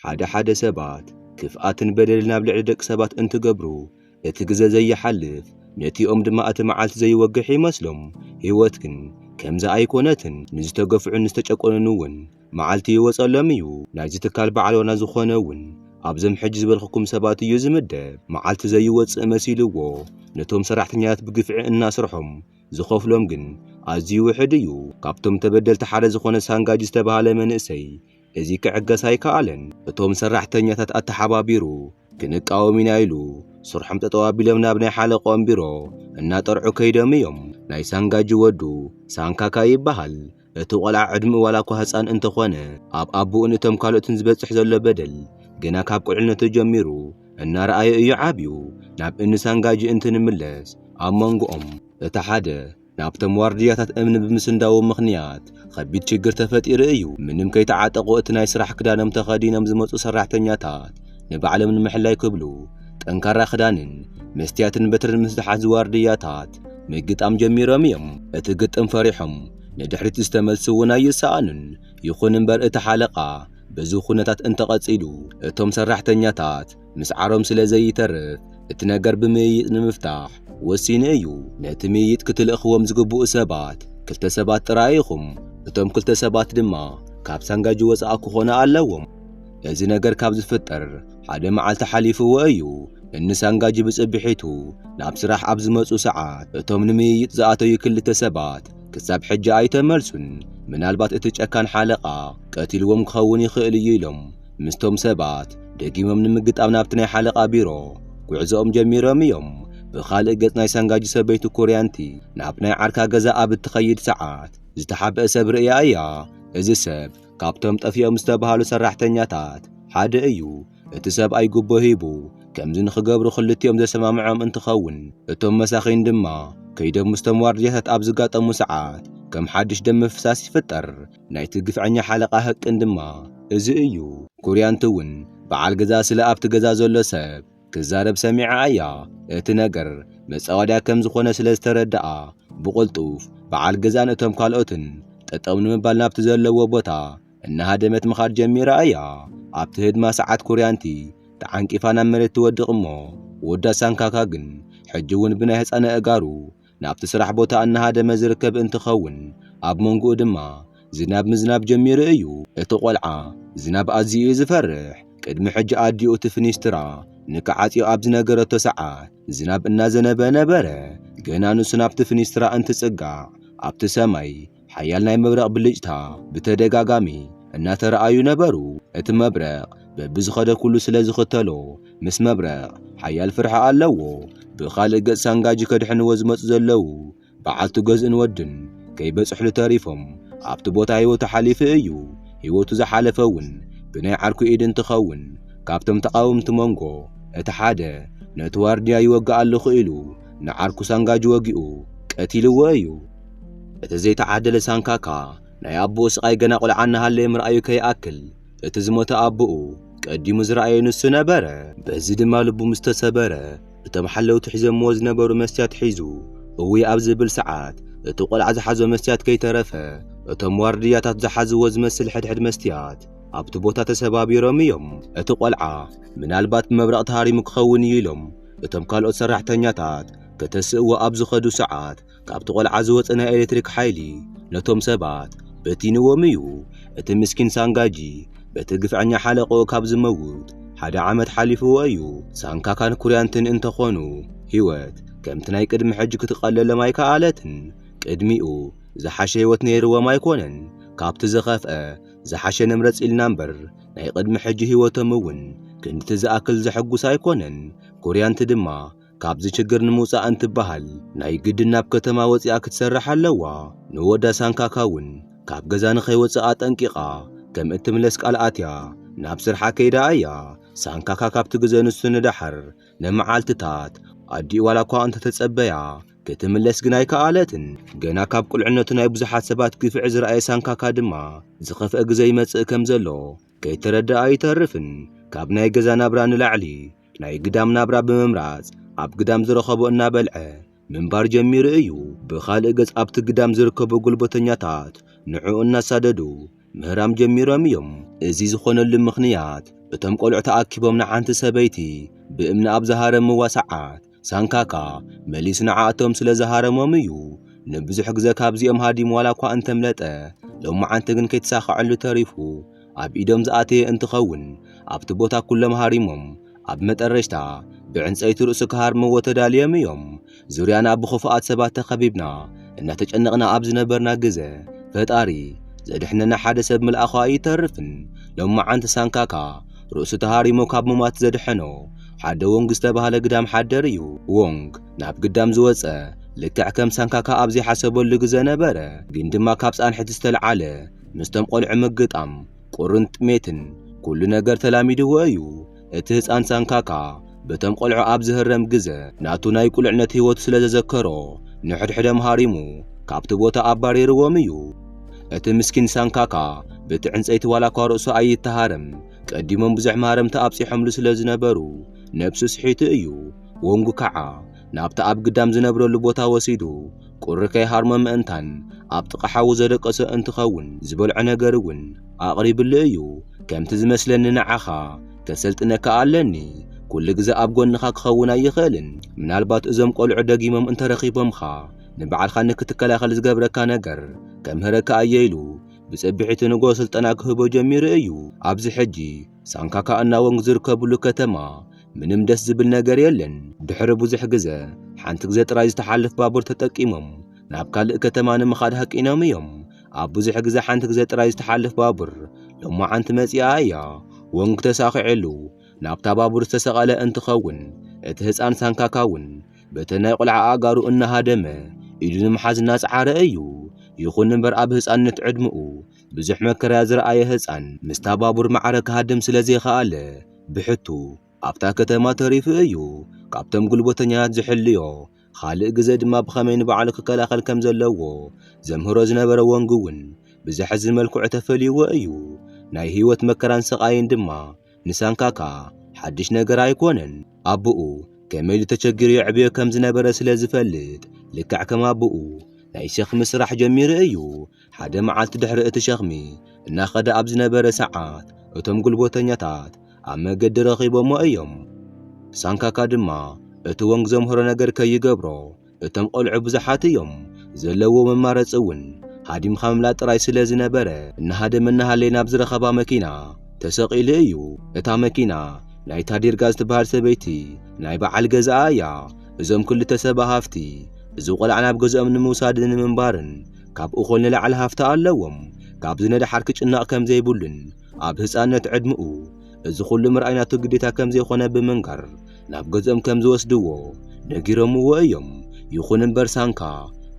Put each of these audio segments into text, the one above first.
ሓደ ሓደ ሰባት ክፍኣትን በደልን ኣብ ልዕሊ ደቂ ሰባት እንትገብሩ እቲ ግዘ ዘይሓልፍ ነቲኦም ድማ እቲ መዓልቲ ዘይወግሕ ይመስሎም። ህይወት ግን ከምዚ ኣይኮነትን። ንዝተገፍዑን ዝተጨቆኑን እውን መዓልቲ ይወፀሎም እዩ። ናይዚ ትካል በዓል ዋና ዝኾነ እውን ኣብዞም ሕጂ ዝበልኹኩም ሰባት እዩ ዝምደብ። መዓልቲ ዘይወፅእ መሲልዎ ነቶም ሰራሕተኛታት ብግፍዒ እናስርሖም ዝኸፍሎም ግን ኣዝዩ ውሕድ እዩ። ካብቶም ተበደልቲ ሓደ ዝኾነ ሳንጋጂ ዝተብሃለ መንእሰይ እዚ ክዕገስ ኣይከኣለን። እቶም ሰራሕተኛታት ኣተሓባቢሩ ክንቃወም ኢና ኢሉ ስርሖም ጠጠው ኣቢሎም ናብ ናይ ሓለቆኦም ቢሮ እናጠርዑ ከይዶም እዮም። ናይ ሳንጋጂ ወዱ ሳንካካ ይበሃል። እቲ ቆልዓ ዕድምኡ ዋላኳ ህጻን እንተኾነ ኣብ ኣቡኡን እቶም ካልኦትን ዝበጽሕ ዘሎ በደል ገና ካብ ቁልዕነቱ ጀሚሩ እናረኣዮ እዩ ዓብዩ። ናብ እኒ ሳንጋጂ እንትንምለስ ኣብ መንጎኦም እቲ ሓደ ናብቶም ዋርድያታት እምኒ ብምስንዳዉ ምኽንያት ኸቢድ ችግር ተፈጢሩ እዩ። ምንም ከይተዓጠቑ እቲ ናይ ስራሕ ክዳኖም ተኸዲኖም ዝመጹ ሰራሕተኛታት ንባዕሎም ንምሕላይ ክብሉ ጠንካራ ክዳንን መስትያትን በትርን ምስ ዝሓዙ ዋርድያታት ምግጣም ጀሚሮም እዮም። እቲ ግጥም ፈሪሖም ንድሕሪት ዝተመልሱ እውን ኣይሰኣኑን። ይኹን እምበር እቲ ሓለቓ በዚ ዅነታት እንተቐጺሉ እቶም ሰራሕተኛታት ምስዓሮም ስለ ዘይተርፍ እቲ ነገር ብምይይጥ ንምፍታሕ ወሲኑ እዩ። ነቲ ምይይጥ ክትልእኽዎም ዝግብኡ ሰባት ክልተ ሰባት ጥራይ ኢኹም፣ እቶም ክልተ ሰባት ድማ ካብ ሳንጋጂ ወጻኢ ክኾኑ ኣለዎም። እዚ ነገር ካብ ዝፍጠር ሓደ መዓልቲ ሓሊፍዎ እዩ። እኒ ሳንጋጂ ብጽብሒቱ ናብ ስራሕ ኣብ ዝመጹ ሰዓት እቶም ንምይይጥ ዝኣተዩ ክልተ ሰባት ክሳብ ሕጂ ኣይተመልሱን። ምናልባት እቲ ጨካን ሓለቓ ቀቲልዎም ክኸውን ይኽእል እዩ ኢሎም ምስቶም ሰባት ደጊሞም ንምግጣም ናብቲ ናይ ሓለቓ ቢሮ ጉዕዞኦም ጀሚሮም እዮም። ብኻልእ ገጽ ናይ ሳንጋጂ ሰበይቲ ኩርያንቲ ናብ ናይ ዓርካ ገዛ ኣብ እትኸይድ ሰዓት ዝተሓብአ ሰብ ርእያ እያ። እዚ ሰብ ካብቶም ጠፊኦም ዝተባህሉ ሰራሕተኛታት ሓደ እዩ። እቲ ሰብኣይ ጉቦ ሂቡ ከምዚ ንኽገብሩ ክልቲኦም ዘሰማምዖም እንትኸውን እቶም መሳኺን ድማ ከይዶም ምስቶም ዋርድያታት ኣብ ዝጋጠሙ ሰዓት ከም ሓድሽ ደም ምፍሳስ ይፍጠር። ናይቲ ግፍዐኛ ሓለቓ ህቅን ድማ እዚ እዩ። ኩርያንት እውን በዓል ገዛ ስለ ኣብቲ ገዛ ዘሎ ሰብ ክዛረብ ሰሚዓ እያ። እቲ ነገር መጻወድያ ከም ዝኾነ ስለ ዝተረድኣ ብቕልጡፍ በዓል ገዛን እቶም ካልኦትን ጠጠው ንምባል ናብቲ ዘለዎ ቦታ እናሃደመት ምኻድ ጀሚራ እያ። ኣብቲ ህድማ ሰዓት ኩርያንቲ ተዓንቂፋ ናብ መሬት ትወድቕ እሞ ወዳ ሳንካካ ግን ሕጂ እውን ብናይ ህጻን ኣእጋሩ ናብቲ ስራሕ ቦታ እናሃደመ ዝርከብ እንትኸውን፣ ኣብ መንጎኡ ድማ ዝናብ ምዝናብ ጀሚሩ እዩ። እቲ ቆልዓ ዝናብ ኣዝዩ እዩ ዝፈርሕ። ቅድሚ ሕጂ ኣዲኡ እቲ ፍኒስትራ ንክዓጽዮ ኣብ ዝነገረቶ ሰዓት ዝናብ እናዘነበ ነበረ። ገና ንሱ ናብቲ ፍኒስትራ እንትጽጋዕ ኣብቲ ሰማይ ሓያል ናይ መብረቕ ብልጭታ ብተደጋጋሚ እናተረኣዩ ነበሩ። እቲ መብረቕ በብዝኸደ ኩሉ ስለ ዝኽተሎ ምስ መብረቕ ሓያል ፍርሒ ኣለዎ። ብኻልእ ገጽ ሳንጋጂ ከድሕንዎ ዝመጹ ዘለዉ በዓልቱ ገዝእን ወድን ከይበጽሕሉ ተሪፎም ኣብቲ ቦታ ህይወቱ ሓሊፉ እዩ። ህይወቱ ዝሓለፈ እውን ብናይ ዓርኩ ኢድ እንትኸውን ካብቶም ተቓወምቲ መንጎ እቲ ሓደ ነቲ ዋርድያ ይወግእ ኣለኹ ኢሉ ንዓርኩ ሳንጋጂ ወጊኡ ቀቲልዎ እዩ። እቲ ዘይተዓደለ ሳንካካ ናይ ኣቦኡ ስቓይ ገና ቈልዓ እናሃለየ ምርኣዩ ከይኣክል እቲ ዝሞተ ኣቦኡ ቀዲሙ ዝረኣየ ንሱ ነበረ። በዚ ድማ ልቡ ምስ ተሰበረ እቶም ሓለውቲ ሒዞምዎ ዝነበሩ መስትያት ሒዙ እውይ ኣብ ዝብል ሰዓት እቲ ቈልዓ ዝሓዞ መስትያት ከይተረፈ እቶም ዋርድያታት ዝሓዝዎ ዝመስል ሕድሕድ መስትያት ኣብቲ ቦታ ተሰባቢሮም እዮም። እቲ ቈልዓ ምናልባት ብመብረቕ ተሃሪሙ ክኸውን እዩ ኢሎም እቶም ካልኦት ሰራሕተኛታት ከተስእዎ ኣብ ዝኸዱ ሰዓት ካብቲ ቆልዓ ዝወጸ ናይ ኤሌክትሪክ ሓይሊ ነቶም ሰባት በቲንዎም እዩ። እቲ ምስኪን ሳንጋጂ በቲ ግፍዐኛ ሓለቕኡ ካብ ዝመውት ሓደ ዓመት ሓሊፍዎ እዩ። ሳንካካን ኩርያንትን እንተ ኾኑ ህይወት ከምቲ ናይ ቅድሚ ሕጂ ክትቐለሎም ኣይከኣለትን። ቅድሚኡ ዝሓሸ ህይወት ነይርዎም ኣይኮነን። ካብቲ ዝኸፍኣ ዝሓሸ ንምረጽ ኢልና እምበር ናይ ቅድሚ ሕጂ ህይወቶም እውን ክንድቲ ዝኣክል ዘሐጉስ ኣይኮነን። ኩርያንት ድማ ካብዚ ችግር ንምውጻእ እንትበሃል ናይ ግድን ናብ ከተማ ወጺኣ ክትሰርሕ ኣለዋ። ንወዳ ሳንካካ እውን ካብ ገዛ ንኸይወጽእ ኣጠንቂቓ ከም እትምለስ ቃል ኣትያ ናብ ስርሓ ከይዳ እያ። ሳንካካ ካብቲ ግዘ ንሱ ንደሓር ንመዓልትታት ኣዲኡ ዋላ እኳ እንተተጸበያ ክትምለስ ግን ኣይከኣለትን። ገና ካብ ቁልዕነቱ ናይ ብዙሓት ሰባት ግፍዒ ዝረኣየ ሳንካካ ድማ ዝኸፍአ ግዘ ይመጽእ ከም ዘሎ ከይተረድኣ ኣይተርፍን። ካብ ናይ ገዛ ናብራ ንላዕሊ ናይ ግዳም ናብራ ብምምራጽ ኣብ ግዳም ዝረኸቦ እናበልዐ ምንባር ጀሚሩ እዩ። ብኻልእ ገጽ ኣብቲ ግዳም ዝርከቡ ጉልበተኛታት ንዕኡ እናሳደዱ ምህራም ጀሚሮም እዮም። እዚ ዝኾነሉ ምኽንያት እቶም ቆልዑ ተኣኪቦም ንሓንቲ ሰበይቲ ብእምኒ ኣብ ዝሃረምዋ ሰዓት ሳንካካ መሊስ ንዓኣቶም ስለ ዝሃረሞም እዩ ንብዙሕ ግዘ ካብዚኦም ሃዲም ዋላ እኳ እንተምለጠ ሎማዓንቲ ግን ከይተሳኸዐሉ ተሪፉ ኣብ ኢዶም ዝኣተየ እንትኸውን ኣብቲ ቦታ ኩሎም ሃሪሞም ኣብ መጠረሽታ ብዕንፀይቲ ርእሱ ክሃርምዎ ተዳልዮም እዮም። ዙርያና ብኽፉኣት ሰባት ተኸቢብና እናተጨነቕና ኣብ ዝነበርና ግዘ ፈጣሪ ዘድሕነና ሓደ ሰብ ምልኣኹ ኣይተርፍን። ሎማዓንቲ ሳንካካ ርእሱ ተሃሪሙ ካብ ምሟት ዘድሐኖ ሓደ ዎንግ ዝተባህለ ግዳም ሓደር እዩ። ዎንግ ናብ ግዳም ዝወጸ ልክዕ ከም ሳንካካ ኣብ ዘይሓሰበሉ ግዘ ነበረ። ግን ድማ ካብ ጻንሒት ዝተልዓለ ምስቶም ቆልዑ ምግጣም፣ ቁርን ጥሜትን ኩሉ ነገር ተላሚድዎ እዩ። እቲ ህጻን ሳንካካ፣ በቶም ቆልዑ ኣብ ዝህረም ግዘ ናቱ ናይ ቁልዕነት ህይወቱ ስለ ዘዘከሮ ንሕድሕደም ሃሪሙ ካብቲ ቦታ ኣባሪርዎም እዩ። እቲ ምስኪን ሳንካካ ብቲ ዕንጸይቲ ዋላኳ ርእሱ ኣይተሃረም ቀዲሞም ብዙሕ ማህረምቲ ኣብጺሖምሉ ስለ ዝነበሩ ነብሱ ስሒቱ እዩ። ዎንግ ካዓ ናብቲ ኣብ ግዳም ዝነብረሉ ቦታ ወሲዱ ቁሪ ከይሃርሞ ምእንታን ኣብ ጥቃ ሓዉ ዘደቀሶ እንትከዉን ዝበልዖ ነገር እዉን ኣቅሪብሉ እዩ። ከምቲ ዝመስለኒ ንዓካ ከሰልጥነካ ኣለኒ ኩሉ ግዘ ኣብ ጎንኻ ክኸውን ኣይኽእልን ምናልባት እዞም ቆልዑ ደጊሞም እንተረኺቦምኻ ንበዓልካ ንክትከላኸል ዝገብረካ ነገር ከምህረካ እየ ኢሉ ብጽብሒቱ ንጎ ስልጠና ክህቦ ጀሚሩ እዩ ኣብዚ ሕጂ ሳንካካ እና ወንግ ዝርከብሉ ከተማ ምንም ደስ ዝብል ነገር የለን ድሕሪ ብዙሕ ግዘ ሓንቲ ግዘ ጥራይ ዝተሓልፍ ባቡር ተጠቂሞም ናብ ካልእ ከተማ ንምኻድ ሃቂኖም እዮም ኣብ ብዙሕ ግዜ ሓንቲ ግዜ ጥራይ ዝተሓልፍ ባቡር ሎማዓንቲ መጺኣ እያ። ወንግ ተሳኺዕሉ ናብታ ባቡር ዝተሰቐለ እንትኸውን እቲ ህፃን ሳንካካ እውን በተን ናይ ቁልዓ ኣእጋሩ እናሃደመ ኢዱ ንምሓዝ እናጸዓረ እዩ። ይኹን እምበር ኣብ ህፃንነት ዕድመኡ ብዙሕ መከራያ ዝረኣየ ህፃን ምስታ ባቡር ማዕረ ክሃድም ስለ ዘይኸኣለ ብሕቱ ኣብታ ከተማ ተሪፉ እዩ። ካብቶም ጉልበተኛታት ዝሕልዮ ኻልእ ግዘ ድማ ብኸመይ ንባዕሉ ክከላኸል ከም ዘለዎ ዘምህሮ ዝነበረ ወንግ እውን ብዘሕዝን መልክዑ ተፈልዩዎ እዩ። ናይ ህይወት መከራን ስቓይን ድማ ንሳንካካ ሓድሽ ነገር ኣይኮነን። ኣቦኡ ከመይ ኢሉ ተቸጊሩ የዕብዮ ከም ዝነበረ ስለ ዝፈልጥ ልክዕ ከም ኣቦኡ ናይ ሸኽሚ ስራሕ ጀሚሩ እዩ። ሓደ መዓልቲ ድሕሪ እቲ ሸኽሚ እናኸደ ኣብ ዝነበረ ሰዓት እቶም ጉልበተኛታት ኣብ መገዲ ረኺቦሞ እዮም። ሳንካካ ድማ እቲ ወንግ ዘምህሮ ነገር ከይገብሮ እቶም ቈልዑ ብዙሓት እዮም፣ ዘለዎ መማረጺ እውን ሃዲምካ ምምላጥ ጥራይ ስለ ዝነበረ እናሃደመ እናሃለየ ናብ ዝረኸባ መኪና ተሰቒሉ እዩ። እታ መኪና ናይታ ዲርጋ ዝትበሃል ሰበይቲ ናይ በዓል ገዛኣ እያ። እዞም ክልተ ሰብኣ ሃፍቲ እዚ ቈልዓ ናብ ገዝኦም ንምውሳድን ንምንባርን ካብ እኹል ንላዕሊ ሃፍቲ ኣለዎም። ካብዚ ንደሓር ክጭነቕ ከም ዘይብሉን ኣብ ህጻንነት ዕድመኡ እዚ ኹሉ ምርኣይ ናቱ ግዴታ ከም ዘይኮነ ብምንጋር ናብ ገዝኦም ከም ዝወስድዎ ነጊሮምዎ እዮም። ይኹን እምበር ሳንካ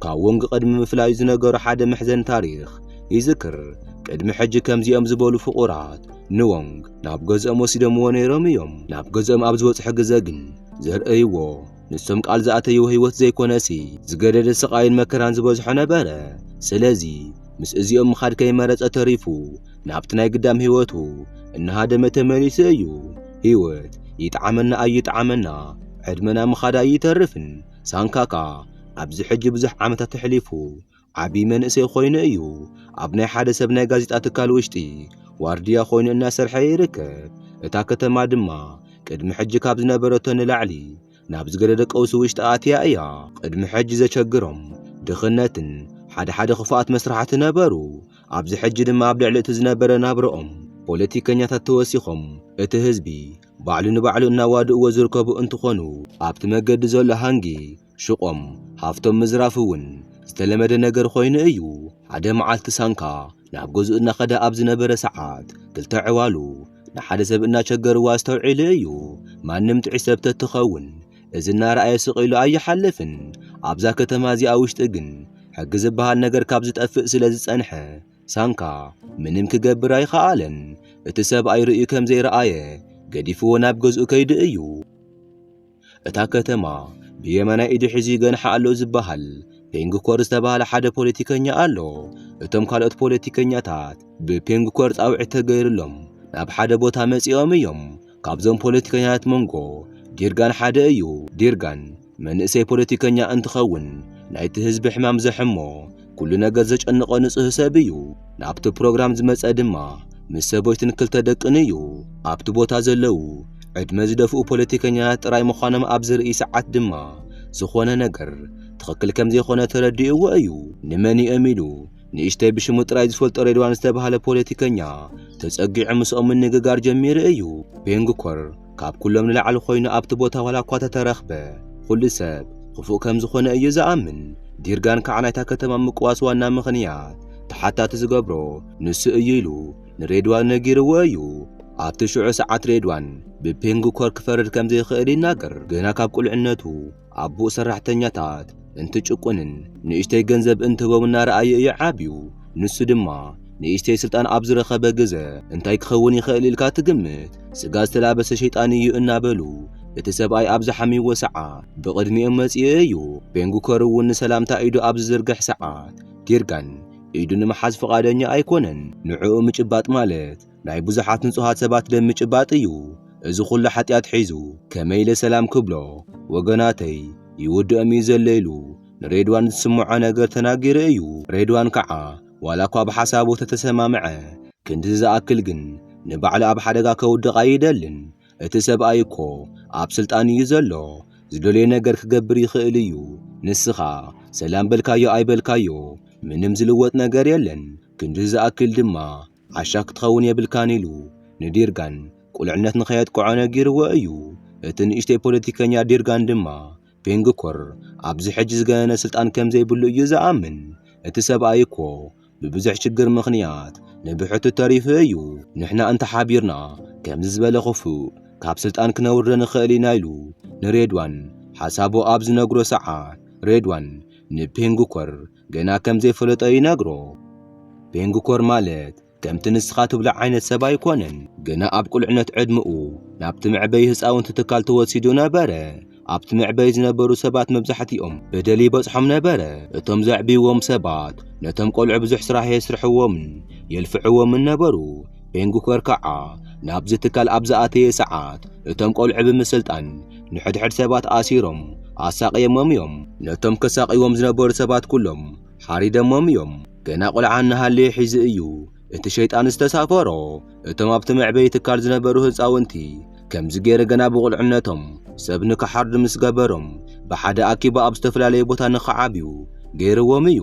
ካብ ዎንግ ቅድሚ ምፍላዩ ዝነገሮ ሓደ መሕዘኒ ታሪኽ ይዝክር። ቅድሚ ሕጂ ከምዚኦም ዝበሉ ፍቑራት ንዎንግ ናብ ገዝኦም ወሲዶምዎ ነይሮም እዮም። ናብ ገዝኦም ኣብ ዝበጽሑ ግዘ ግን ዘርእይዎ ንሶም ቃል ዝኣተይዎ ሕይወት ዘይኮነሲ ዝገደደ ስቓይን መከራን ዝበዝሖ ነበረ። ስለዚ ምስ እዚኦም ምኻድ ከይመረጸ ተሪፉ ናብቲ ናይ ግዳም ሕይወቱ እናሃደመ ተመሊሱ እዩ። ሕይወት ይጥዓመና ኣይጥዓመና ዕድመና ምኻዳ ኣይተርፍን። ሳንካካ ኣብዚ ሕጂ ብዙሕ ዓመታት ኣሕሊፉ። ዓቢ መንእሰይ ኮይኑ እዩ ኣብ ናይ ሓደ ሰብ ናይ ጋዜጣ ትካል ውሽጢ ዋርድያ ኮይኑ እናሰርሐ ይርከብ። እታ ከተማ ድማ ቅድሚ ሕጂ ካብ ዝነበረቶ ንላዕሊ ናብ ዝገደደ ቀውሲ ውሽጢ ኣትያ እያ። ቅድሚ ሕጂ ዘቸግሮም ድኽነትን ሓደ ሓደ ክፉኣት መስርሓት ነበሩ። ኣብዚ ሕጂ ድማ ኣብ ልዕሊ እቲ ዝነበረ ናብርኦም ፖለቲከኛታት ተወሲኾም እቲ ህዝቢ ባዕሉ ንባዕሉ እናዋድእዎ ዝርከቡ እንትኾኑ፣ ኣብቲ መገዲ ዘሎ ሃንጊ ሽቖም ሃፍቶም ምዝራፍ እውን ዝተለመደ ነገር ኮይኑ እዩ። ሓደ መዓልቲ ሳንካ ናብ ገዝኡ እናኸደ ኣብ ዝነበረ ሰዓት ክልተ ዕዋሉ ንሓደ ሰብ እናቸገርዎ ኣስተውዒሉ እዩ። ማንም ጥዑይ ሰብ ተትኸውን እዚ እናረኣየ ስቕ ኢሉ ኣይሓልፍን። ኣብዛ ከተማ እዚኣ ውሽጢ ግን ሕጊ ዝበሃል ነገር ካብ ዝጠፍእ ስለ ዝጸንሐ ሳንካ ምንም ክገብር ኣይኸኣለን። እቲ ሰብኣይ ርእዩ ከም ዘይረኣየ ገዲፍዎ ናብ ገዝኡ ከይዱ እዩ። እታ ከተማ ብየማናይ ኢዱ ሒዙ ይገንሓ ኣሎ ዝበሃል ፔንግኮር ዝተባህለ ሓደ ፖለቲከኛ ኣሎ። እቶም ካልኦት ፖለቲከኛታት ብፔንግኮር ጻውዒት ተገይርሎም ናብ ሓደ ቦታ መጺኦም እዮም። ካብዞም ፖለቲከኛታት መንጎ ዲርጋን ሓደ እዩ። ዲርጋን መንእሰይ ፖለቲከኛ እንትኸውን ናይቲ ህዝቢ ሕማም ዘሕሞ ኩሉ ነገር ዘጨንቖ ንጹህ ሰብ እዩ። ናብቲ ፕሮግራም ዝመጸ ድማ ምስ ሰበይቱን ክልተ ደቅን እዩ። ኣብቲ ቦታ ዘለዉ ዕድመ ዝደፍኡ ፖለቲከኛታት ጥራይ ምዃኖም ኣብ ዝርኢ ሰዓት ድማ ዝኾነ ነገር ትኽክል ከም ዘይኮነ ተረዲእዎ እዩ። ንመን እዮም ኢሉ ንእሽተይ ብሽሙ ጥራይ ዝፈልጦ ሬድዋን ዝተባህለ ፖለቲከኛ ተጸጊዑ ምስኦም ምንግጋር ጀሚሩ እዩ። ፔንግኮር ካብ ኩሎም ንላዕሊ ኮይኑ ኣብቲ ቦታ ዋላ እኳ ተተረኽበ ኹሉ ሰብ ኽፉእ ከም ዝኾነ እዩ ዝኣምን። ዲርጋን ከዓ ናይታ ከተማ ምቅዋስ ዋና ምኽንያት ተሓታቲ ዝገብሮ ንሱ እዩ ኢሉ ንሬድዋን ነጊርዎ እዩ። ኣብቲ ሽዑ ሰዓት ሬድዋን ብፔንግ ኮር ክፈርድ ከም ዘይኽእል ይናገር። ገና ካብ ቁልዕነቱ ኣቦኡ ሰራሕተኛታት እንትጭቁንን ንእሽተይ ገንዘብ እንትህቦም እናረኣየ እዩ ዓብዩ። ንሱ ድማ ንእሽተይ ስልጣን ኣብ ዝረኸበ ግዘ እንታይ ክኸውን ይኽእል ኢልካ ትግምት? ስጋ ዝተላበሰ ሸይጣን እዩ እናበሉ እቲ ሰብኣይ ኣብ ዝሓምይዎ ሰዓ ብቕድሚኦም መፂኡ እዩ። ቤንጉከር እውን ንሰላምታ ኢዱ ኣብ ዝዝርግሕ ሰዓት ጊርጋን ኢዱ ንምሓዝ ፍቓደኛ ኣይኮነን። ንዕኡ ምጭባጥ ማለት ናይ ብዙሓት ንጹሃት ሰባት ደም ምጭባጥ እዩ እዚ ኹሉ ሓጢኣት ሒዙ ከመይ ኢለ ሰላም ክብሎ ወገናተይ ይውድኦም እዩ ዘሎ ኢሉ ንሬድዋን ዝስምዖ ነገር ተናጊሩ እዩ ሬድዋን ከዓ ዋላ እኳ ብሓሳቡ ተተሰማምዐ ክንድዚ ዝኣክል ግን ንባዕሉ ኣብ ሓደጋ ከውድቕ ኣይደልን እቲ ሰብኣይ እኮ ኣብ ስልጣን እዩ ዘሎ ዝደልዮ ነገር ክገብር ይኽእል እዩ ንስኻ ሰላም በልካዮ ኣይበልካዮ ምንም ዝልወጥ ነገር የለን ክንድዚ ዝኣክል ድማ ዓሻ ክትኸውን የብልካን ኢሉ ንዲርጋን ቁልዕነት ንኸየጥቅዖ ነጊርዎ እዩ። እቲ ንእሽተይ ፖለቲከኛ ዲርጋን ድማ ፔንግኮር ኣብዚ ሕጂ ዝገነነ ስልጣን ከም ዘይብሉ እዩ ዝኣምን። እቲ ሰብኣይ እኮ ብብዙሕ ሽግር ምኽንያት ንብሕቱ ተሪፉ እዩ። ንሕና እንተ ሓቢርና ከምዚ ዝበለ ክፉእ ካብ ስልጣን ክነውርዶ ንኽእል ኢና ኢሉ ንሬድዋን ሓሳቡ ኣብ ዝነግሮ ሰዓት፣ ሬድዋን ንፔንግኮር ገና ከም ዘይፈለጦ ይነግሮ። ቤንግኮር ማለት ከምቲ ንስኻ ትብሎ ዓይነት ሰብ ኣይኮነን። ገና ኣብ ቁልዕነት ዕድመኡ ናብቲ መዕበዪ ህጻውንቲ ትካል ተወሲዱ ነበረ። ኣብቲ መዕበዪ ዝነበሩ ሰባት መብዛሕትኦም በደል ይበጽሖም ነበረ። እቶም ዘዕብይዎም ሰባት ነቶም ቈልዑ ብዙሕ ስራሕ የስርሕዎምን የልፍዕዎምን ነበሩ። ቤንግኮር ከኣ ናብዚ ትካል ኣብ ዝኣተየ ሰዓት እቶም ቈልዑ ብምስልጣን ንሕድሕድ ሰባት ኣሲሮም ኣሳቕየሞም እዮም። ነቶም ከሳቕይዎም ዝነበሩ ሰባት ኩሎም ሓሪደሞም እዮም። ገና ቁልዓ እናሃለየ ሒዙ እዩ እቲ ሸይጣን ዝተሳፈሮ። እቶም ኣብቲ መዕበዪ ትካል ዝነበሩ ህጻውንቲ ከምዚ ገይሩ ገና ብቑልዕነቶም ሰብ ንክሓርዱ ምስ ገበሮም ብሓደ ኣኪቡ ኣብ ዝተፈላለየ ቦታ ንክዓብዩ ገይርዎም እዩ።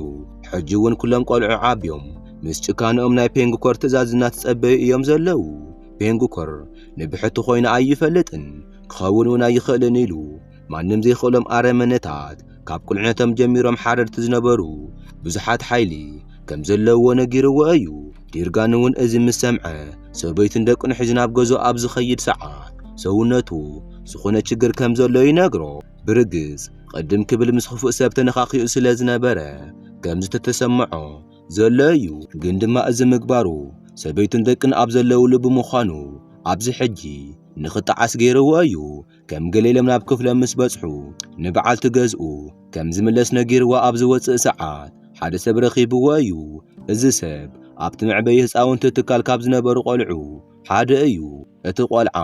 ሕጂ እውን ኩሎም ቆልዑ ዓብዮም ምስ ጭካነኦም ናይ ፔንግኮር ትእዛዝ እናተጸበዩ እዮም ዘለዉ። ፔንግኮር ንብሕቲ ኮይኑ ኣይፈልጥን። ክኸውን እውን ኣይኽእልን ኢሉ ማንም ዘይኽእሎም ኣረመነታት ካብ ቁልዕነቶም ጀሚሮም ሓረድቲ ዝነበሩ ብዙሓት ሓይሊ ከም ዘለዎ ነጊርዎ እዩ። ዲርጋን እውን እዚ ምስ ሰምዐ ሰበይቱን ደቅን ሒዙ ናብ ገዞ ኣብ ዝኸይድ ሰዓት ሰውነቱ ዝኾነ ችግር ከም ዘሎ ይነግሮ። ብርግጽ ቕድም ክብል ምስ ክፉእ ሰብ ተነኻኺኡ ስለ ዝነበረ ከም ዝተተሰምዖ ዘሎ እዩ። ግን ድማ እዚ ምግባሩ ሰበይቱን ደቅን ኣብ ዘለውሉ ብምዃኑ ኣብዚ ሕጂ ንኽጠዓስ ገይርዎ እዩ። ከም ገሌሎም ናብ ክፍሎም ምስ በጽሑ ንበዓልቲ ገዝኡ ከም ዝምለስ ነጊርዋ ኣብ ዝወጽእ ሰዓት ሓደ ሰብ ረኺብዎ እዩ። እዚ ሰብ ኣብቲ መዕበዪ ህጻውንቲ ትካል ካብ ዝነበሩ ቆልዑ ሓደ እዩ። እቲ ቆልዓ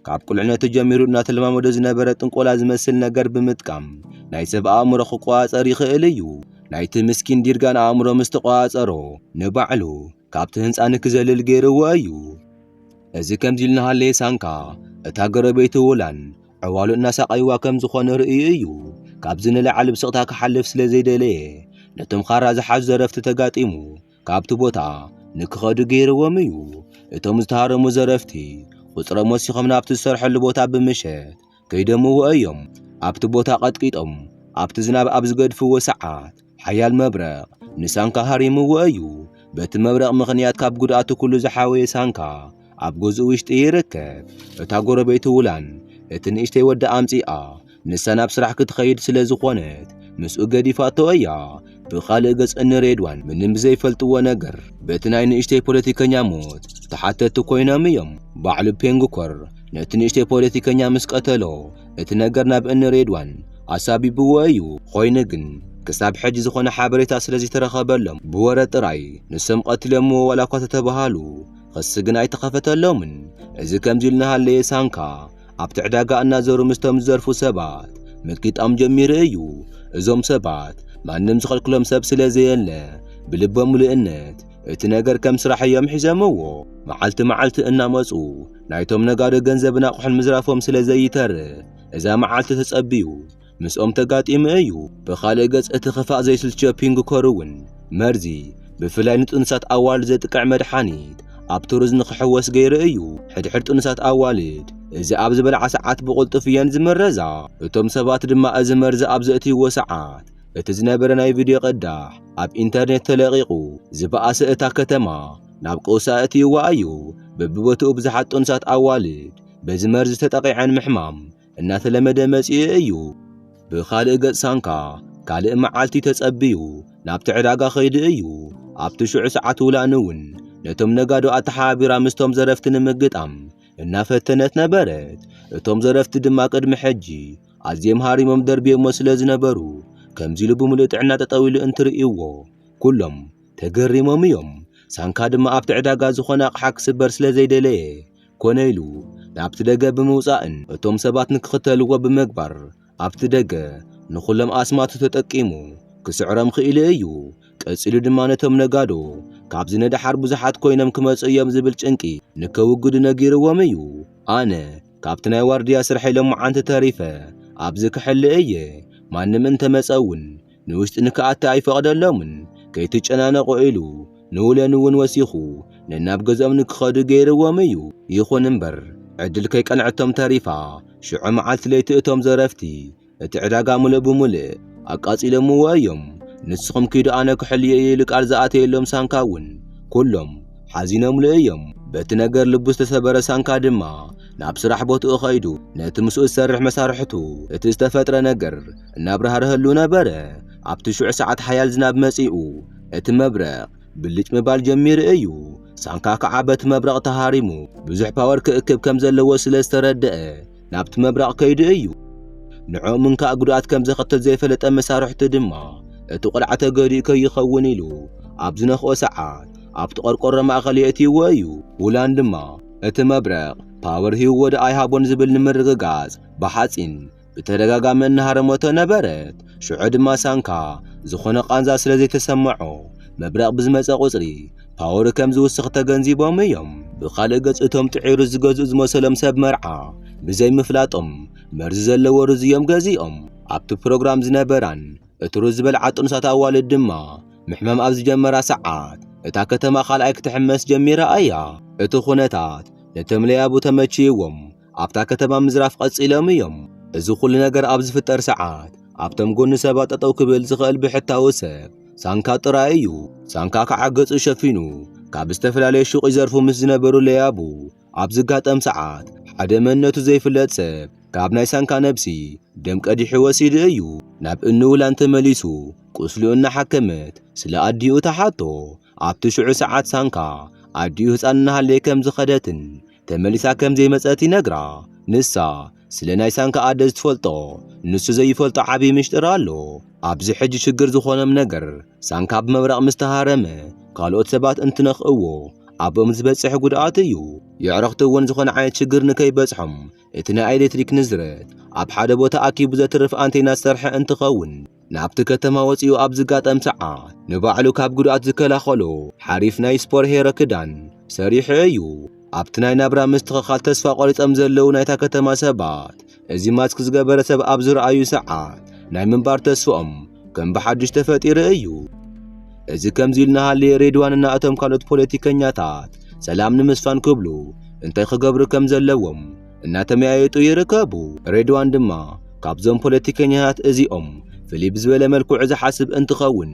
ካብ ቁልዕነቱ ጀሚሩ እናተለማመዶ ዝነበረ ጥንቆላ ዝመስል ነገር ብምጥቃም ናይ ሰብ ኣእምሮ ክቆጻጸር ይኽእል እዩ። ናይቲ ምስኪን ዲርጋን ኣእምሮ ምስ ተቆጻጸሮ ንባዕሉ ካብቲ ህንፃ ንክዘልል ገይርዎ እዩ። እዚ ከምዚ ኢሉ እናሃለየ ሳንካ እታ ጎረቤቱ ውላን ዕዋሉ እናሳቐይዋ ከም ዝኾነ ርእዩ እዩ። ካብዚ ንላዕሊ ብስቕታ ክሓልፍ ስለ ዘይደለየ ነቶም ኻራ ዝሓዙ ዘረፍቲ ተጋጢሙ ካብቲ ቦታ ንክኸዱ ገይርዎም እዩ። እቶም ዝተሃረሙ ዘረፍቲ ቁፅሮም ወሲኾም ናብቲ ዝሰርሐሉ ቦታ ብምሸት ከይደምዎ እዮም ኣብቲ ቦታ ቀጥቂጦም ኣብቲ ዝናብ ኣብ ዝገድፍዎ ሰዓት ሓያል መብረቕ ንሳንካ ሃሪምዎ እዩ። በቲ መብረቕ ምኽንያት ካብ ጉድኣቱ ኩሉ ዝሓወየ ሳንካ ኣብ ገዝኡ ውሽጢ ይርከብ። እታ ጎረቤቱ ውላን እቲ ንእሽተይ ወዳ ኣምጺኣ ንሳ ናብ ስራሕ ክትኸይድ ስለ ዝኾነት ምስኡ ገዲፋቶ እያ። ብኻልእ ገጽ እኒ ሬድዋን ምንም ብዘይፈልጥዎ ነገር በቲ ናይ ንእሽተይ ፖለቲከኛ ሞት ተሓተቲ ኮይኖም እዮም። ባዕሉ ፔንግኮር ነቲ ንእሽተይ ፖለቲከኛ ምስ ቀተሎ እቲ ነገር ናብ እኒ ሬድዋን ኣሳቢብዎ እዩ። ኾይኑ ግን ክሳብ ሕጂ ዝኾነ ሓበሬታ ስለዘይተረኸበሎም ብወረ ጥራይ ንሶም ቀቲሎምዎ ዋላ እኳ ተተባሃሉ ኽሲ ግን ኣይተኸፈተሎምን። እዚ ከምዚ ኢሉ እናሃለየ ሳንካ ኣብቲ ዕዳጋ እናዘሩ ምስቶም ዝዘርፉ ሰባት ምጥጊጣም ጀሚሩ እዩ። እዞም ሰባት ማንም ዝኸልክሎም ሰብ ስለ ዘየለ ብልቦም ምሉእነት እቲ ነገር ከም ስራሕ እዮም ሒዘምዎ። መዓልቲ መዓልቲ እናመጹ ናይቶም ነጋዶ ገንዘብን ኣቑሑን ምዝራፎም ስለ ዘይተርፍ እዛ መዓልቲ ተጸብዩ ምስኦም ተጋጢሙ እዩ። ብኻልእ ገጽ እቲ ክፋእ ዘይስልችዮ ፒንግኮር እውን መርዚ ብፍላይ ንጥኑሳት ኣዋልድ ዘጥቅዕ መድሓኒት ኣብ ቱርዝ ንኽሕወስ ገይሩ እዩ። ሕድሕድ ጥኑሳት ኣዋልድ እዚ ኣብ ዝበልዓ ሰዓት ብቕልጡፍ እየን ዝምረዛ። እቶም ሰባት ድማ እዚ መርዚ ኣብ ዘእትይዎ ሰዓት እቲ ዝነበረ ናይ ቪድዮ ቅዳሕ ኣብ ኢንተርኔት ተለቒቑ ዝበኣሰ እታ ከተማ ናብ ቀውሲ ኣእትይዋ እዩ። በብቦትኡ ብዙሓት ጥኑሳት ኣዋልድ በዚ መርዚ ተጠቒዐን ምሕማም እናተለመደ መጺኡ እዩ። ብኻልእ ገጽ ሳንካ ካልእ መዓልቲ ተጸብዩ ናብቲ ዕዳጋ ከይዱ እዩ። ኣብቲ ሽዑ ሰዓት ውላን እውን ነቶም ነጋዶ ኣተሓባቢራ ምስቶም ዘረፍቲ ንምግጣም እናፈተነት ነበረት። እቶም ዘረፍቲ ድማ ቅድሚ ሕጂ ኣዝዮም ሃሪሞም ደርብዮሞ ስለ ዝነበሩ ከምዚ ኢሉ ብምሉእ ጥዕና ጠጠው ኢሉ እንትርእዩዎ ኩሎም ተገሪሞም እዮም። ሳንካ ድማ ኣብቲ ዕዳጋ ዝኾነ ኣቕሓ ክስበር ስለ ዘይደለየ ኮነ ኢሉ ናብቲ ደገ ብምውጻእን እቶም ሰባት ንክኽተልዎ ብምግባር ኣብቲ ደገ ንኹሎም ኣስማቱ ተጠቂሙ ክስዕሮም ኽኢሉ እዩ። ቀጺሉ ድማ ነቶም ነጋዶ ካብዚ ንደሓር ብዙሓት ኮይኖም ክመጹ እዮም ዝብል ጭንቂ ንከውግዱ ነጊርዎም እዩ። ኣነ ካብቲ ናይ ዋርድያ ስርሐይ ሎምዓንቲ ተሪፈ ኣብዚ ክሕሊ እየ። ማንም እንተመጸ እውን ንውሽጢ ንክኣቲ ኣይፈቐደሎምን፣ ከይትጨናነቑ ኢሉ ንውለን እውን ወሲኹ ነናብ ገዝኦም ንክኸዱ ገይርዎም እዩ። ይኹን እምበር ዕድል ከይቀንዐቶም ተሪፋ ሽዑ መዓልቲ ለይቲ እቶም ዘረፍቲ እቲ ዕዳጋ ምሉእ ብምሉእ ኣቃፂሎምዎ እዮም። ንስኹም ኪዱ ኣነ ክሕልዮ እየ ኢሉ ቃል ዝኣተየሎም ሳንካ እውን ኩሎም ሓዚኖምሉ እዮም። በቲ ነገር ልቡ ዝተሰበረ ሳንካ ድማ ናብ ስራሕ ቦትኡ ከይዱ ነቲ ምስኡ ዝሰርሕ መሳርሕቱ እቲ ዝተፈጥረ ነገር እናብራህርሀሉ ነበረ። ኣብቲ ሽዑ ሰዓት ሓያል ዝናብ መጺኡ እቲ መብረቕ ብልጭ ምባል ጀሚሩ እዩ። ሳንካ ከዓ በቲ መብረቕ ተሃሪሙ ብዙሕ ፓወር ክእክብ ከም ዘለዎ ስለ ዝተረደአ ናብቲ መብረቕ ከይዱ እዩ። ንዕኦም እንካእ ጉድኣት ከም ዘኸትል ዘይፈለጠ መሳርሕቱ ድማ እቲ ቆልዓ ተገዲኡ ከይኸውን ኢሉ ኣብ ዝነኽኦ ሰዓት ኣብቲ ቆርቆሮ ማእኸል የእትይዎ እዩ። ውላን ድማ እቲ መብረቕ ፓወር ሂብዎ ዶ ኣይሃቦን ዝብል ንምርግጋጽ ብሓጺን ብተደጋጋሚ እናሃረመቶ ነበረት። ሽዑ ድማ ሳንካ ዝኾነ ቃንዛ ስለ ዘይተሰመዖ መብረቕ ብዝመጸ ቁጽሪ ፓወሩ ከም ዝውስኽ ተገንዚቦም እዮም። ብኻልእ ገጽ እቶም ጥዑይ ሩዝ ዝገዝኡ ዝመሰሎም ሰብ መርዓ ብዘይ ምፍላጦም መርዚ ዘለዎ ሩዝ እዮም ገዚኦም። ኣብቲ ፕሮግራም ዝነበራን እቲ ሩዝ ዝበልዓ ጥኑሳት ኣዋልድ ድማ ምሕማም ኣብ ዝጀመራ ሰዓት እታ ከተማ ካልኣይ ክትሕመስ ጀሚራ እያ። እቲ ኩነታት ነቶም ለያቡ ተመችይዎም ኣብታ ከተማ ምዝራፍ ቀጺሎም እዮም። እዚ ኹሉ ነገር ኣብ ዝፍጠር ሰዓት ኣብቶም ጎኒ ሰባት ጠጠው ክብል ዝኽእል ብሕታዊ ሰብ ሳንካ ጥራይ እዩ። ሳንካ ከዓ ገጹ ሸፊኑ ካብ ዝተፈላለየ ሹቕ ይዘርፉ ምስ ዝነበሩ ለያቡ ኣብ ዝጋጠም ሰዓት ሓደ መንነቱ ዘይፍለጥ ሰብ ካብ ናይ ሳንካ ነብሲ ደም ቀዲሑ ወሲዱ እዩ። ናብ እንውላን ተመሊሱ ቁስሉ እናሓከመት ስለ ኣዲኡ ተሓቶ። ኣብቲ ሽዑ ሰዓት ሳንካ ኣዲኡ ህፃን እናሃለየ ከም ዝኸደትን ተመሊሳ ከም ዘይመጸት ይነግራ። ንሳ ስለ ናይ ሳንካ ኣደ ዝትፈልጦ ንሱ ዘይፈልጦ ዓቢ ምሽጥር ኣሎ። ኣብዚ ሕጂ ሽግር ዝኾኖም ነገር ሳንካ ብመብረቕ ምስ ተሃረመ ካልኦት ሰባት እንትነኽእዎ ኣብኦም ዝበጽሕ ጉድኣት እዩ። የዕርኽቲ እውን ዝኾነ ዓይነት ሽግር ንከይበጽሖም እቲ ናይ ኤሌክትሪክ ንዝረት ኣብ ሓደ ቦታ ኣኪቡ ዘትርፍ ኣንቴና ዝሰርሐ እንትኸውን ናብቲ ከተማ ወጺኡ ኣብ ዝጋጠም ሰዓት ንባዕሉ ካብ ጉድኣት ዝከላኸሎ ሓሪፍ ናይ ስፖር ሄረ ክዳን ሰሪሑ እዩ። ኣብቲ ናይ ናብራ ምስትኽኻል ተስፋ ቆሪጾም ዘለዉ ናይታ ከተማ ሰባት እዚ ማስክ ዝገበረ ሰብ ኣብ ዝረኣዩ ሰዓት ናይ ምንባር ተስፍኦም ከም ብሓድሽ ተፈጢሩ እዩ። እዚ ከምዚ ኢሉ እናሃለየ ሬድዋንና እቶም ካልኦት ፖለቲከኛታት ሰላም ንምስፋን ክብሉ እንታይ ክገብሩ ከም ዘለዎም እናተመያየጡ ይርከቡ። ሬድዋን ድማ ካብዞም ፖለቲከኛታት እዚኦም ፍልይ ብዝበለ መልክዑ ዝሓስብ እንትኸውን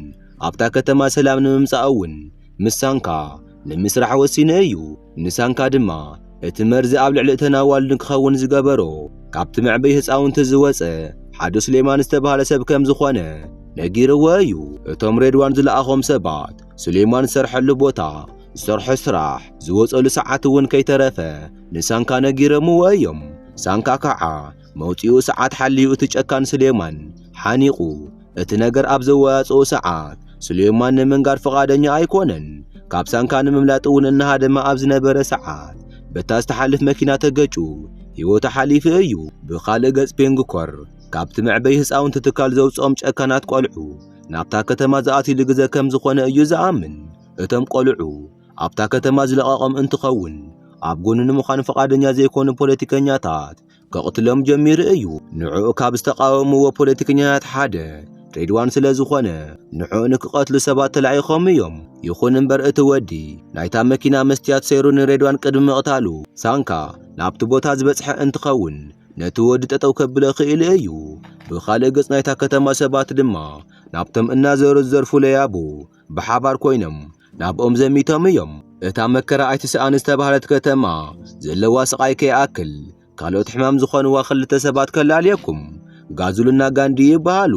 ኣብታ ከተማ ሰላም ንምምጻእ እውን ምስ ሳንካ ንምስራሕ ወሲኑ እዩ። ንሳንካ ድማ እቲ መርዚ ኣብ ልዕሊ እተን ኣዋልድ ንክኸውን ዝገበሮ ካብቲ መዕበይ ህፃውንቲ ዝወፀ ሓደ ሱሌማን ዝተባህለ ሰብ ከም ዝኾነ ነጊርዎ እዩ። እቶም ሬድዋን ዝለኣኾም ሰባት ሱሌማን ዝሰርሐሉ ቦታ፣ ዝሰርሖ ስራሕ፣ ዝወፀሉ ሰዓት እውን ከይተረፈ ንሳንካ ነጊረምዎ እዮም። ሳንካ ከኣ መውጽኡ ሰዓት ሓልዩ እቲ ጨካን ስሌማን ሓኒቑ እቲ ነገር ኣብ ዘወያጽኦ ሰዓት ስሌማን ንምንጋር ፍቓደኛ ኣይኮነን። ካብ ሳንካ ንምምላጥ እውን እናሃደመ ኣብ ዝነበረ ሰዓት በታ ዝተሓልፍ መኪና ተገጩ ህይወቱ ሓሊፉ እዩ። ብኻልእ ገጽ ፔንግኮር ካብቲ መዕበይ ህፃውንቲ ትካል ዘውጽኦም ጨካናት ቆልዑ ናብታ ከተማ ዝኣትሉ ግዘ ከም ዝኾነ እዩ ዝኣምን። እቶም ቆልዑ ኣብታ ከተማ ዝለቐቐም እንትኸውን ኣብ ጎኑ ንምዃን ፈቓደኛ ዘይኮኑ ፖለቲከኛታት ከቕትሎም ጀሚሩ እዩ። ንዕኡ ካብ ዝተቃወምዎ ፖለቲከኛታት ሓደ ሬድዋን ስለ ዝኾነ ንዕኡ ንክቐትሉ ሰባት ተላኢኾም እዮም። ይኹን እምበር እቲ ወዲ ናይታ መኪና መስትያት ሰይሩ ንሬድዋን ቅድሚ ምቕታሉ ሳንካ ናብቲ ቦታ ዝበጽሐ እንትኸውን ነቲ ወዲ ጠጠው ከብሎ ክኢሉ እዩ። ብኻልእ ገጽ ናይታ ከተማ ሰባት ድማ ናብቶም እናዘሩ ዝዘርፉ ለያቡ ብሓባር ኮይኖም ናብኦም ዘሚቶም እዮም። እታ መከራ ኣይትስኣን ዝተባህለት ከተማ ዘለዋ ስቓይ ከይኣክል ካልኦት ሕማም ዝኾንዋ ክልተ ሰባት ከላልየኩም። ጋዙልና ጋንዲ ይበሃሉ።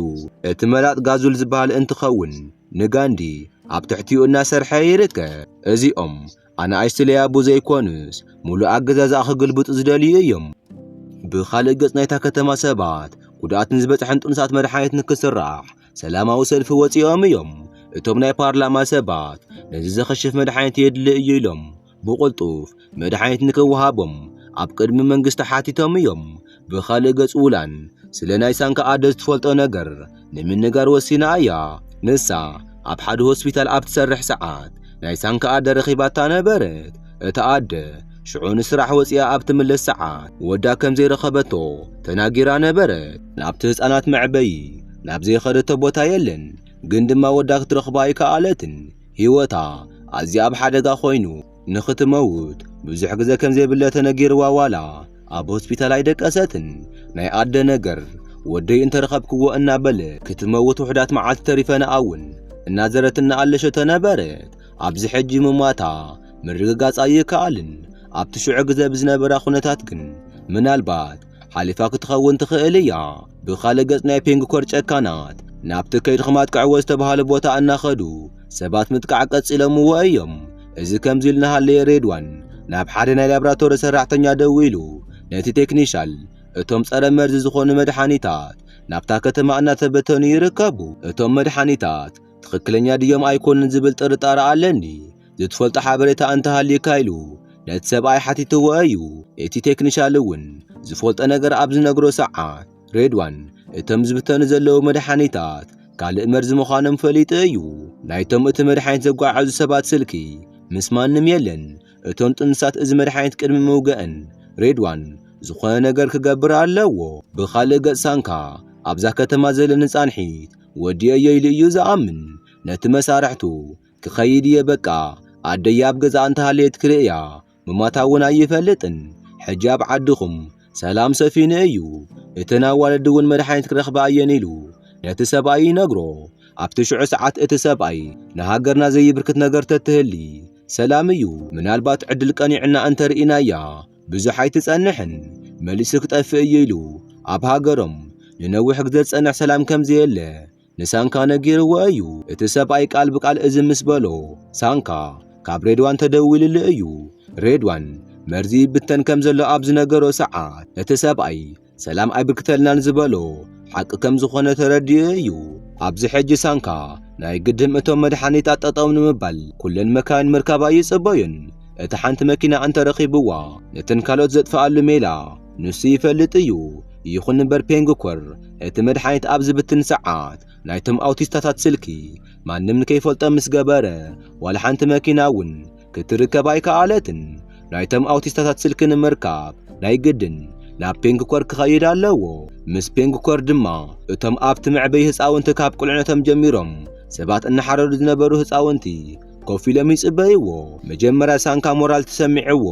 እቲ መላጥ ጋዙል ዝበሃል እንትኸውን ንጋንዲ ኣብ ትሕቲኡ እናሰርሐ ይርከብ። እዚኦም ኣናእሽቲ ለያቡ ዘይኮኑስ ሙሉእ ኣገዛዝኣ ክግልብጡ ዝደልዩ እዮም። ብኻልእ ገጽ ናይታ ከተማ ሰባት ጉድኣት ንዝበጽሐን ጥኑሳት መድሓኒት ንክስራሕ ሰላማዊ ሰልፊ ወፂኦም እዮም። እቶም ናይ ፓርላማ ሰባት ነዚ ዘኸሽፍ መድሓኒት የድሊ እዩ ኢሎም ብቕልጡፍ መድሓኒት ንክወሃቦም ኣብ ቅድሚ መንግስቲ ሓቲቶም እዮም። ብኻልእ ገጽ ውላን ስለ ናይ ሳንካ ኣደ ዝትፈልጦ ነገር ንምንጋር ወሲና እያ። ንሳ ኣብ ሓደ ሆስፒታል ኣብ ትሰርሕ ሰዓት ናይ ሳንካ ኣደ ረኺባታ ነበረት። እታ ኣደ ሽዑ ንስራሕ ወፂኣ ኣብ ትምለስ ሰዓት ወዳ ከም ዘይረኸበቶ ተናጊራ ነበረት። ናብቲ ህፃናት መዕበዪ ናብ ዘይኸደቶ ቦታ የለን ግን ድማ ወዳ ክትረኽባ ኣይከኣለትን ህይወታ ኣዝያ ኣብ ሓደጋ ኮይኑ ንኽትመውት ብዙሕ ግዜ ከም ዘይብለ ተነጊርዋ ዋላ ኣብ ሆስፒታል ኣይደቀሰትን ናይ ኣደ ነገር ወደይ እንተረኸብክዎ እናበለ ክትመውት ውሕዳት መዓልቲ ተሪፈና እውን እናዘረት እናኣለሸ ተነበረት ኣብዚ ሕጂ ምሟታ ምርግጋጽ ኣይከኣልን ኣብቲ ሽዑ ግዜ ብዝነበራ ኩነታት ግን ምናልባት ሓሊፋ ክትኸውን ትኽእል እያ። ብኻልእ ገጽ ናይ ፔንግኮር ጨካናት ናብቲ ከይድኹም ኣጥቅዕዎ ዝተብሃለ ቦታ እናኸዱ ሰባት ምጥቃዕ ቀጺሎምዎ እዮም። እዚ ከምዚ ኢሉ እናሃለየ ሬድዋን ናብ ሓደ ናይ ላብራቶሪ ሰራሕተኛ ደዊሉ ነቲ ቴክኒሻል እቶም ጸረ መርዚ ዝኾኑ መድሓኒታት ናብታ ከተማ እናተበተኑ ይርከቡ። እቶም መድሓኒታት ትኽክለኛ ድዮም ኣይኮኑን ዝብል ጥርጣረ ኣለኒ። ዝትፈልጦ ሓበሬታ እንተ ሃልዩካ ኢሉ ነቲ ሰብኣይ ሓቲትዎ እዩ። እቲ ቴክኒሻል እውን ዝፈልጦ ነገር ኣብ ዝነግሮ ሰዓት ሬድዋን እቶም ዝብተኑ ዘለዉ መድሓኒታት ካልእ መርዚ ምዃኖም ፈሊጡ እዩ። ናይቶም እቲ መድሓኒት ዘጓዓዕዙ ሰባት ስልኪ ምስ ማንም የለን። እቶም ጥኑሳት እዚ መድሓኒት ቅድሚ ምውገእን ሬድዋን ዝኾነ ነገር ክገብር ኣለዎ። ብኻልእ ገጽ ሳንካ ኣብዛ ከተማ ዘለኒ ጻንሒት ወዲኦዮ ኢሉ እዩ ዝኣምን። ነቲ መሳርሕቱ ክኸይድ እየ በቃ ኣደይ ኣብ ገዛ እንተሃለየት ክርእያ ምማታ እውን ኣይፈልጥን ሕጂ ኣብ ዓድኹም ሰላም ሰፊኑ እዩ እተን ኣዋልድ እውን መድሓኒት ክረኽባ እየን ኢሉ ነቲ ሰብኣይ ይነግሮ ኣብቲ ሽዑ ሰዓት እቲ ሰብኣይ ንሃገርና ዘይብርክት ነገር ተትህሊ ሰላም እዩ ምናልባት ዕድል ቀኒዕና እንተርኢናያ ብዙሕ ኣይትጸንሕን መሊሱ ክጠፍእ እዩ ኢሉ ኣብ ሃገሮም ንነዊሕ ግዜ ዝጸንሕ ሰላም ከምዘየለ ንሳንካ ነጊርዎ እዩ። እቲ ሰብኣይ ቃል ብቃል እዚ ምስ በሎ ሳንካ ካብ ሬድዋን ተደዊልሉ እዩ። ሬድዋን መርዚ ይብተን ከም ዘሎ ኣብ ዝነገሮ ሰዓት እቲ ሰብኣይ ሰላም ኣይብርክተልናን ዝበሎ ሓቂ ከም ዝኾነ ተረዲኡ እዩ። ኣብዚ ሕጂ ሳንካ ናይ ግድም እቶም መድሓኒታት ጠጠው ንምባል ኩለን መካይን ምርካብ ኣይጽበዩን። እቲ ሓንቲ መኪና እንተረኺብዋ ነተን ካልኦት ዘጥፍኣሉ ሜላ ንሱ ይፈልጥ እዩ። ይኹን እምበር ፔንግኮር እቲ መድሓኒት ኣብ ዝብትን ሰዓት ናይቶም ኣውቲስታታት ስልኪ ማንም ንከይፈልጦ ምስ ገበረ ዋላ ሓንቲ መኪና እውን ክትርከብ ኣይከኣለትን። ናይቶም ኣውቲስታታት ስልኪ ንምርካብ ናይ ግድን ናብ ፔንግኮር ክኸይድ ኣለዎ። ምስ ፔንግኮር ድማ እቶም ኣብቲ መዕበዪ ህፃውንቲ ካብ ቁልዕነቶም ጀሚሮም ሰባት እናሓረዱ ዝነበሩ ህፃውንቲ ኮፍ ኢሎም ይጽበይዎ። መጀመርያ ሳንካ ሞራል ተሰሚዕዎ፣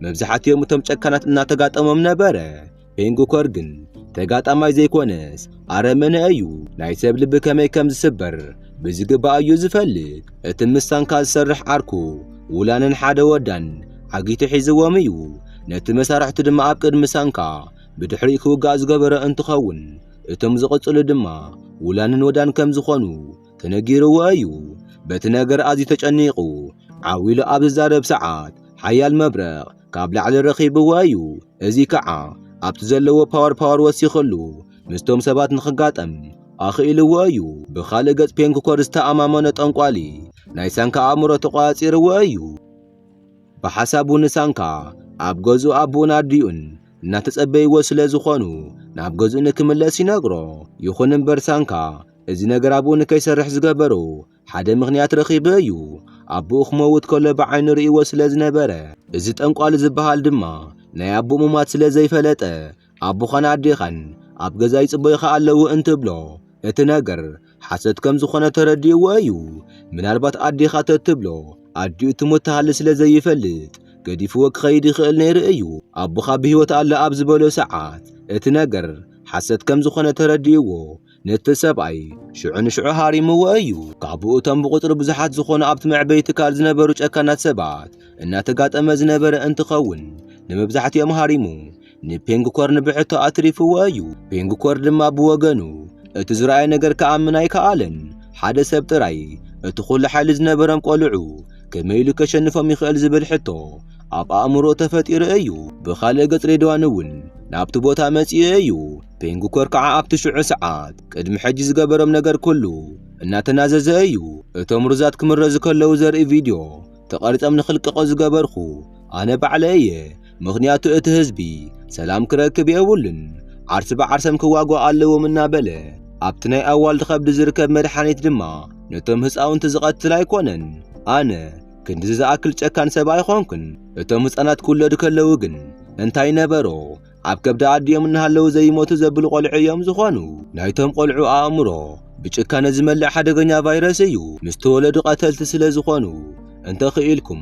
መብዛሕትኦም እቶም ጨካናት እናተጋጠሞም ነበረ። ቤንግኮር ግን ተጋጣማይ ዘይኮነስ ኣረመነ እዩ። ናይ ሰብ ልቢ ከመይ ከም ዝስበር ብዝግባእ እዩ ዝፈልጥ። እቲ ምስ ሳንካ ዝሰርሕ ዓርኩ ውላንን ሓደ ወዳን ዓጊቱ ሒዝዎም እዩ። ነቲ መሳርሕቱ ድማ ኣብ ቅድሚ ሳንካ ብድሕሪ ክውጋእ ዝገበረ እንትኸውን እቶም ዝቕጽሉ ድማ ውላንን ወዳን ከም ዝኾኑ ተነጊርዎ እዩ። በቲ ነገር ኣዝዩ ተጨኒቑ ዓው ኢሉ ኣብ ዝዛረብ ሰዓት ሓያል መብረቕ ካብ ላዕሊ ረኺብዎ እዩ። እዚ ከዓ ኣብቲ ዘለዎ ፓወር ፓወር ወሲኸሉ ምስቶም ሰባት ንኽጋጠም ኣኽኢልዎ እዩ። ብኻልእ ገጽ ፔንኩኮር ዝተኣማመኖ ጠንቋሊ ናይ ሳንካ ኣእምሮ ተቖጻጺርዎ እዩ። ብሓሳቡ ንሳንካ ኣብ ገዝኡ ኣቦኡን ኣዲኡን እናተጸበይዎ ስለ ዝኾኑ ናብ ገዝኡ ንክምለስ ይነግሮ። ይኹን እምበር ሳንካ እዚ ነገር ኣብኡ ንከይሰርሕ ዝገበሮ ሓደ ምኽንያት ረኺበ እዩ ኣቦኡ ክመውት ከሎ ብዓይኑ ርእይዎ ስለ ዝነበረ እዚ ጠንቋሊ ዝበሃል ድማ ናይ ኣቦኡ ምሟት ስለ ዘይፈለጠ ኣቦኻን ኣዴኻን ኣብ ገዛ ይጽበዩኻ ኣለዉ እንትብሎ እቲ ነገር ሓሰት ከም ዝኾነ ተረዲእዎ እዩ ምናልባት ኣዴኻ ተትብሎ ኣዲኡ ትሞት ትሃሊ ስለ ዘይፈልጥ ገዲፍዎ ክኸይድ ይኽእል ነይሩ እዩ ኣቦኻ ብህይወት ኣለ ኣብ ዝበሎ ሰዓት እቲ ነገር ሓሰት ከም ዝኾነ ተረዲእዎ ነቲ ሰብኣይ ሽዑ ንሽዑ ሃሪምዎ እዩ። ካብኡ እቶም ብቁጽሪ ብዙሓት ዝኾኑ ኣብቲ መዕበይ ትካል ዝነበሩ ጨካናት ሰባት እናተጋጠመ ዝነበረ እንትኸውን ንመብዛሕትኦም ሃሪሙ ንፔንግኮርን ብሕቶ ኣትሪፍዎ እዩ። ፔንግኮር ድማ ብወገኑ እቲ ዝረኣየ ነገር ክኣምን ኣይከኣለን። ሓደ ሰብ ጥራይ እቲ ኹሉ ሓይሊ ዝነበሮም ቆልዑ ከመይ ኢሉ ከሸንፎም ይኽእል ዝብል ሕቶ ኣብ ኣእምሮ ተፈጢሩ እዩ። ብኻልእ ገጽ ሬድዋን እውን ናብቲ ቦታ መጺኡ እዩ። ፔንግኮር ከዓ ኣብቲ ሽዑ ሰዓት ቅድሚ ሕጂ ዝገበሮም ነገር ኩሉ እናተናዘዘ እዩ። እቶም ሩዛት ክምረዙ ከለዉ ዘርኢ ቪድዮ ተቐሪጾም ንኽልቀቑ ዝገበርኩ ኣነ ባዕለ እየ። ምኽንያቱ እቲ ህዝቢ ሰላም ክረክብ የብሉን፣ ዓርሲ ብዓርሰም ክዋግኡ ኣለዎም እናበለ ኣብቲ ናይ ኣዋልድ ከብዲ ዝርከብ መድሓኒት ድማ ነቶም ህፃውንቲ ዝቐትል ኣይኮነን። ኣነ ክንድዚ ዝኣክል ጨካን ሰብ ኣይኾንኩን። እቶም ህፃናት ክውለዱ ከለዉ ግን እንታይ ነበሮ? ኣብ ከብዲ ኣዲኦም እናሃለዉ ዘይሞቱ ዘብሉ ቆልዑ እዮም ዝኾኑ። ናይቶም ቆልዑ ኣእምሮ ብጭካነ ዝመልእ ሓደገኛ ቫይረስ እዩ። ምስ ተወለዱ ቀተልቲ ስለ ዝኾኑ እንተኽኢልኩም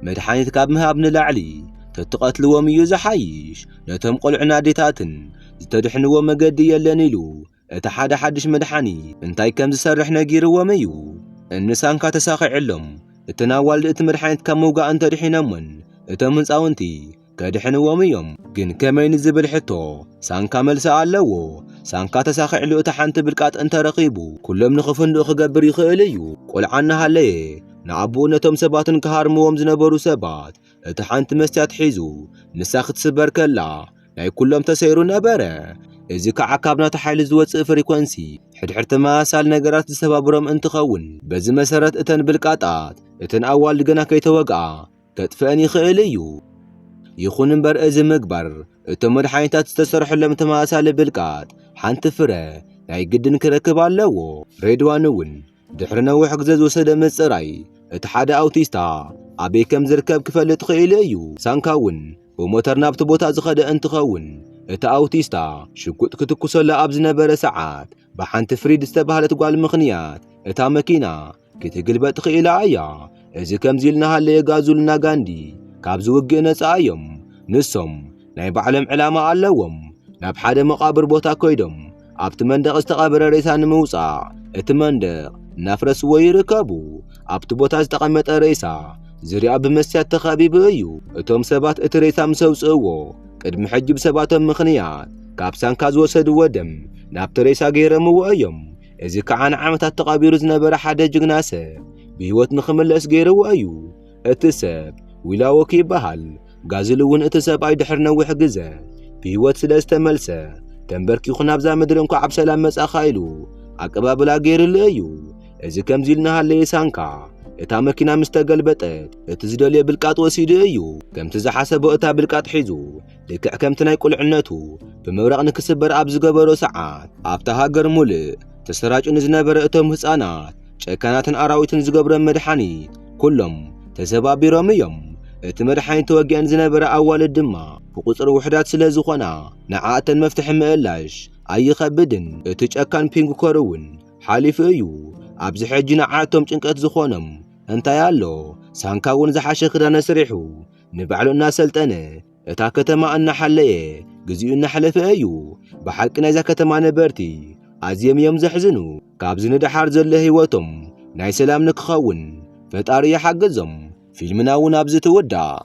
መድሓኒት ካብ ምሃብ ንላዕሊ ተትቐትልዎም እዩ ዝሓይሽ። ነቶም ቆልዑን ኣዴታትን ዝተድሕንዎ መገዲ የለን ኢሉ እቲ ሓደ ሓድሽ መድሓኒ እንታይ ከም ዝሰርሕ ነጊርዎም እዩ። እንሳንካ ተሳኺዕሎም እተን ኣዋልድ እቲ መድሓኒት ካብ ምውጋእ እንተድሒነሞን እቶም ህንጻውንቲ ከድሕንዎም እዮም። ግን ከመይ ንዝብል ሕቶ ሳንካ መልሲ ኣለዎ። ሳንካ ተሳኺዕሉ እታ ሓንቲ ብልቃጥ እንተረኺቡ ኩሎም ንኽፍንድኡ ክገብር ይኽእል እዩ። ቆልዓ እናሃለየ ንኣቡኡ ነቶም ሰባትን ክሃርምዎም ዝነበሩ ሰባት እቲ ሓንቲ መስትያት ሒዙ ንሳ ክትስበር ከላ ናይ ኩሎም ተሰይሩ ነበረ። እዚ ከዓ ካብ ናቱ ሓይሊ ዝወፅእ ፍሪኮንሲ ሕድሕድ ተመሳሳሊ ነገራት ዝሰባብሮም እንትኸውን በዚ መሰረት እተን ብልቃጣት እተን ኣዋልድ ገና ከይተወግኣ ከጥፍአን ይኽእል እዩ። ይኹን እምበር እዚ ምግባር እቶም መድሓኒታት ዝተሰርሐሎም ተመሳሳሊ ብልቃጥ ሓንቲ ፍረ ናይ ግድን ክረክብ ኣለዎ። ሬድዋን እውን ድሕሪ ነዊሕ ግዜ ዝወሰደ ምጽራይ እቲ ሓደ ኣውቲስታ ኣበይ ከም ዝርከብ ክፈልጥ ኽኢሉ እዩ። ሳንካ እውን ብሞተር ናብቲ ቦታ ዝኸደ እንትኸውን እቲ ኣውቲስታ ሽጉጥ ክትኩሰሉ ኣብ ዝነበረ ሰዓት ብሓንቲ ፍሪድ ዝተባህለት ጓል ምኽንያት እታ መኪና ክትግልበጥ ኽኢላ እያ። እዚ ከምዚ ኢሉ እናሃለየ ጋዙልና ጋንዲ ካብዚ ውግእ ነጻ እዮም። ንሶም ናይ ባዕሎም ዕላማ ኣለዎም። ናብ ሓደ መቓብር ቦታ ኮይዶም ኣብቲ መንደቕ ዝተቐብረ ሬሳ ንምውጻእ እቲ መንደቕ እናፍረስዎ ይርከቡ። ኣብቲ ቦታ ዝተቐመጠ ሬሳ ዝርያ ብመስትያት ተኸቢቡ እዩ። እቶም ሰባት እቲ ሬሳ ምስ ኣውጽእዎ ቅድሚ ሕጂ ብሰባቶም ምኽንያት ካብ ሳንካ ዝወሰድዎ ደም ናብቲ ሬሳ ገይረምዎ እዮም። እዚ ከዓ ንዓመታት ተቐቢሩ ዝነበረ ሓደ ጅግና ሰብ ብህይወት ንኽምለስ ገይርዎ እዩ። እቲ ሰብ ዊላዎክ ይበሃል። ጋዝል እውን እቲ ሰብኣይ ድሕሪ ነዊሕ ግዘ ብህይወት ስለ ዝተመልሰ ተንበርኪኹ ናብዛ ምድሪ እንኳዕ ብሰላም መጻኻ ኢሉ ኣቀባብላ ገይርሉ እዩ። እዚ ከምዚ ኢሉ እናሃለየ ሳንካ እታ መኪና ምስ ተገልበጠት እቲ ዝደልዮ ብልቃጥ ወሲዱ እዩ። ከምቲ ዝሓሰቦ እታ ብልቃጥ ሒዙ ልክዕ ከምቲ ናይ ቁልዕነቱ ብምብራቕ ንክስበር ኣብ ዝገበሮ ሰዓት ኣብታ ሃገር ሙልእ ተሰራጩ ንዝነበረ እቶም ህፃናት ጨካናትን ኣራዊትን ዝገብሮም መድሓኒት ኩሎም ተሰባቢሮም እዮም። እቲ መድሓኒት ተወጊኣን ዝነበረ ኣዋልድ ድማ ብቑፅሪ ውሕዳት ስለ ዝኾና ንዓኣተን መፍትሒ ምእላሽ ኣይኸብድን። እቲ ጨካን ፒንግኮር እውን ሓሊፉ እዩ። ኣብዚ ሕጂ ንዓኣቶም ጭንቀት ዝኾኖም እንታይ ኣሎ? ሳንካ እውን ዝሓሸ ክዳነ ስሪሑ ንባዕሉ እናሰልጠነ እታ ከተማ እናሓለየ ግዚኡ እናሕለፈ እዩ። ብሓቂ ናይዛ ከተማ ነበርቲ ኣዝዮም እዮም ዘሕዝኑ። ካብዚ ንደሓር ዘሎ ህይወቶም ናይ ሰላም ንክኸውን ፈጣሪ ይሓግዞም። ፊልምና እውን ኣብዚ ትውዳእ።